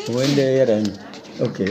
Onwe ndị ya da anyị. Okay.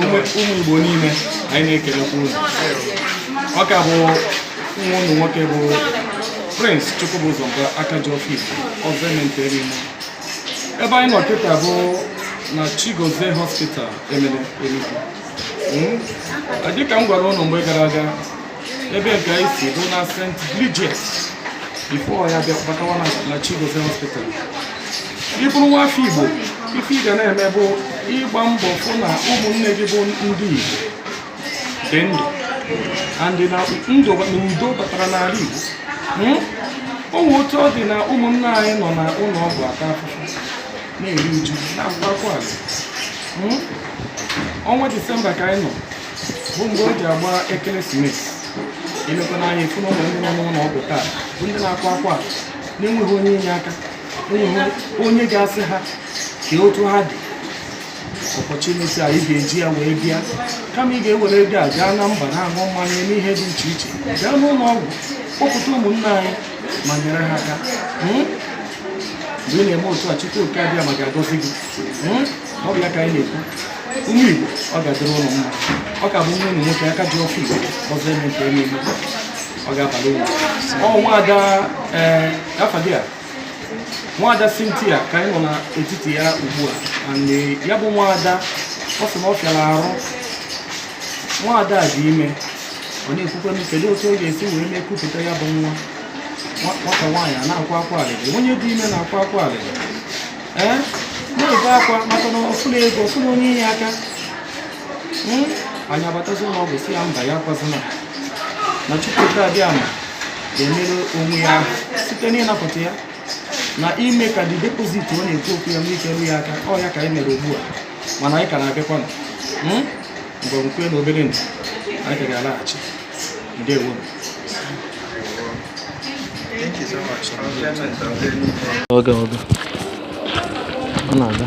ụmụ Igbo niile anyị na-ekelekwa unu ọ ka bụ nwanne unu nwoke bụ Prince Chukwubuzo aka ji ọfọ Igbo ọzọ eme nta eme imo ebe anyị nọ kịta bụ na Chigozie Hospital Emene Enugu hmm? dịka m gwara ụnụ mgbe gara aga ebe nke anyị si bụ na St. Bridget before anyị abịa batawa na Chigozie hospital ị bụrụ nwa afọ Igbo ife ị ga na-eme bụ ịgba mbọ fụ na ụmụnne gị bụ ndị Igbo dị ndụ and na ndụ na udo batara n'ala Igbo hmm? o nwe otu ọ dị na ụmụnne anyị nọ na ụlọ ọgwụ ata afụfụ na-eri uju na-akwa akwa alịrị hmm? ọnwa disemba ka anyị nọ bụ mgbe o ji agba ekeresimesi i lekwa anya ị fụ na ụmụnne ndị nọ n'ụlọ ọgwụ taa bụ ndị na-akwa akwa na-enweghị onye inye aka enweghị onye ga-asị ha kee otu ha dị opportunity a ị ga-eji ya wee bịa kama ị ga-ewere ego a gaa na mba na-aṅụ mmanya eme ihe dị iche iche gaa n'ụlọ ọgwụ kpọpụta ụmụnna anyị ma nyere ha aka hmm? mgbe ị na-eme otu a Chukwu oke Abịama ga-agọzi gị hmm? ọ bụ ya ka anyị na-ekwu ụmụ Igbo ọ ga-adịrị unu mma ọ ka bụ nwanne unu nwoke aka ji ọfọ Igbo ọzọ eme nta eme imo ọ ga-abalị uru ọ nwaada ee eh, afa gị a nwaada Cynthia ka anyị nọ n'etiti ya ugbu a and ya bụ nwaada ọ sị na ọ fịara arụ nwaada a dị ime ọ na-ekwukwe m kedu otu ọ ga-esi wee mee kupụta ya bụ nwa nwata nwaanyị a na-akwa akwa alịrị onye dị ime na-akwa akwa alịrị ee na-ebe akwa maka na ọ fụrọ ego ọ fụrọ onye inye aka Hmm? anyị abatazi ụlọ ọgwụ sị ya mba ya akwazina na Chukwu oke Abịama ga-emere onwe ya aha site n'ịnapụta ya na ime ka dị deposit ọ na-ekwu okwu ya nwee ike ru ya aka ọ ya ka anyị mere ugbu a mana anyị ka na-abịakwanụ Hmm? mgbe nkwe na obere ndụ anyị ka ga-alaghachi ndewo Oge oge. Ọ na-aga.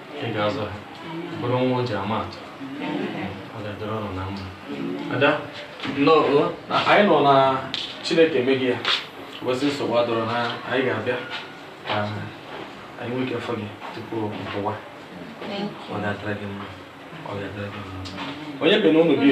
ị ga-azụ ha bụrụ nwa o ji ama atụ ọ ga-adịrị ụnụ na mma ada nnọọ na anyị nọ na chineke emeghị ya ụbọchị nsogbu adịrọ na anyị ga-abịa ka anyị nwee ike fụ gị tupu mpụwa ọ ga-adịrị gị mma ọ ga-adịrị gị mma onye bi na ụlọ gị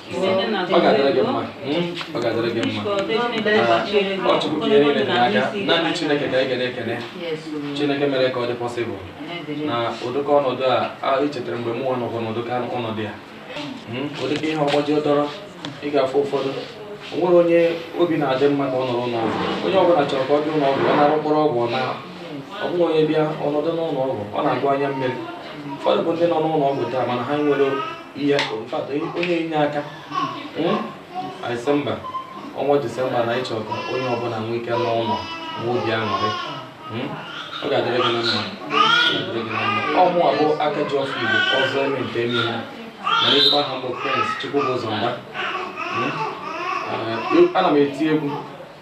ọ ga-adịrị gị mma ọ ga-adịrị gị mma ọ chukwu ka ihe niile dị n'aka naanị chineke ka anyị ga na-ekene chineke mere ka ọ dị pọsịbụl na ụdịka ọnọdụ a echetara mgbe mụnwa nọkwa n'ụdị ka ọnọdụ ya ụdịka ihe ọgbọjọ dọrọ ị ga-afụ ụfọdụ o nwere onye obi na-adị mma ka ọ nọrọ n'ọgwụ onye ọbụla chọrọ ka ọ dị ụlọ ọgwụ ọ na-aṅụ mkpụrụ ọgwụ na ọ bụghị onye bịa ọ nọdụ n'ụlọ ọgwụ ọ na-agụ anya mmiri ụfọdụ bụ ndị nọ n'ụlọ ọgwụ taa mana ha nwere ihe mfata onye inye aka hmm? anyị sị mba ọnwa disemba na anyị chọ ka onye ọbụla nwee ike naa ụlọ n'obi aṅụrị hmm? ọ ga-adịrị gị na mma ọ mụnwa bụ aka ji ọfọ igbo ọzọ eme nta eme imo mana ezigbo aha m bụ prince chukwubụzọ mba hmm? eh, ana m eti egwu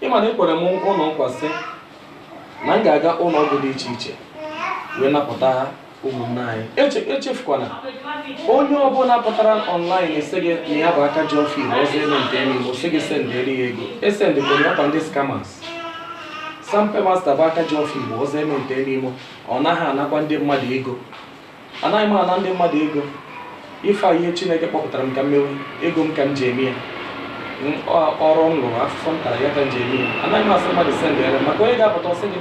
ịma na ekwere m ụnụ nkwa sị na m ga-aga ụlọ ọgwụ dị iche iche wee napụta ụmụnne anyị Eche- echefukwana onye ọbụla pụtara online sị gị na ya bụ aka ji ọfọ igbo ọzọ eme nta eme imo sị gị sendịrị ya ego esendịkwere ya kwa ndị scammers sampe master bụ aka ji ọfọ igbo ọzọ eme nta eme imo ọ naghị anakwa ndị mmadụ ego anaghị m ana ndị mmadụ ego ife a ihe chineke kpọpụtara m ka m mewe ego m ka m ji eme ya ọrụ m lụrụ afụfụ m tara ya ka m ji eme ya anaghị m asị mmadụ sendere maka onye ga-apụta ọ sị gị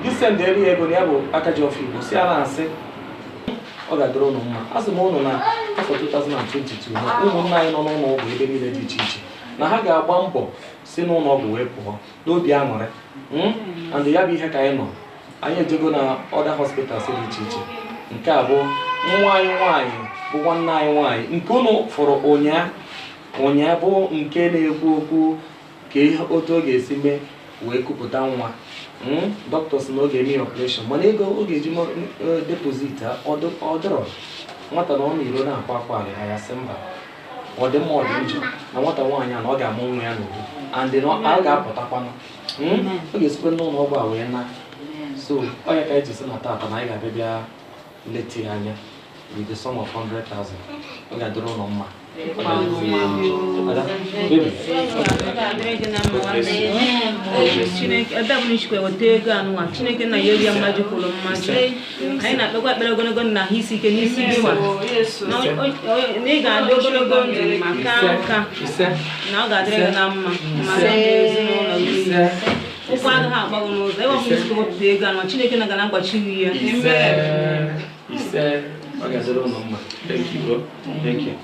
gị sendere ya ego na ya bụ aka ji ọfọ igbo si a na-asị ọ ga-adịrị ụnụ mma asị m ụnụ na afọ 2022 na ụmụnna anyị nọ n'ụlọ ọgwụ ebe niile dị iche iche na ha ga-agba mbọ si n'ụlọ ọgwụ wee pụọ n'obi aṅụrị hmm? and ya bụ ihe ka anyị nọ anyị ejego na other hospitals dị iche iche nke a bụ nwa anyị nwaanyị bụ nwanne anyị nwaanyị nke ụnụ fụrụ ụnyaa ụnyaa bụ nke na-ekwu okwu ka ihe otu ọ ga-esi mee wee kupụta nwa hmm? dọkịta sị na ọ ga-eme ya operation mana ego ọ ga-eji eh, deposit ọ dịrọ nwata nọ n'iro na-akwa akwa alịlị anyị sị mba ọ dị mma ọ dị njọ na nwata nwaanyị a na ọ ga-amụ nwa ya n'udo and na ọ ga-apụtakwanụ Hmm? ọ ga-esikwa n'ụlọ ọgwụ a wee naa so ọ ya ka anyị ji sị na tata na anyị ga-abịa bịa leta ya anya with the sum of 100,000 ọ ga-adịrị ụnụ mma Ada, baby. Chineke, ebe ọbụna i sikwa weta ego anụnwa Chineke na ya eri ya mmaji kwuru mmaji anyị na-ekpekwa ekpere ogologo ndụ na ahụ isi ike n'isi gị nwa na ị ga-adị ogologo ndụ ma ka nka na ọ ga-adịrị gị na mma ma ezinụlọ gị ụkwụ agaghị akpọ gị n'ụzọ ebe ọbụla i si wepụta ego ahụ chineke nna ga na-agbachi gị ya Thank you, bro. Thank you.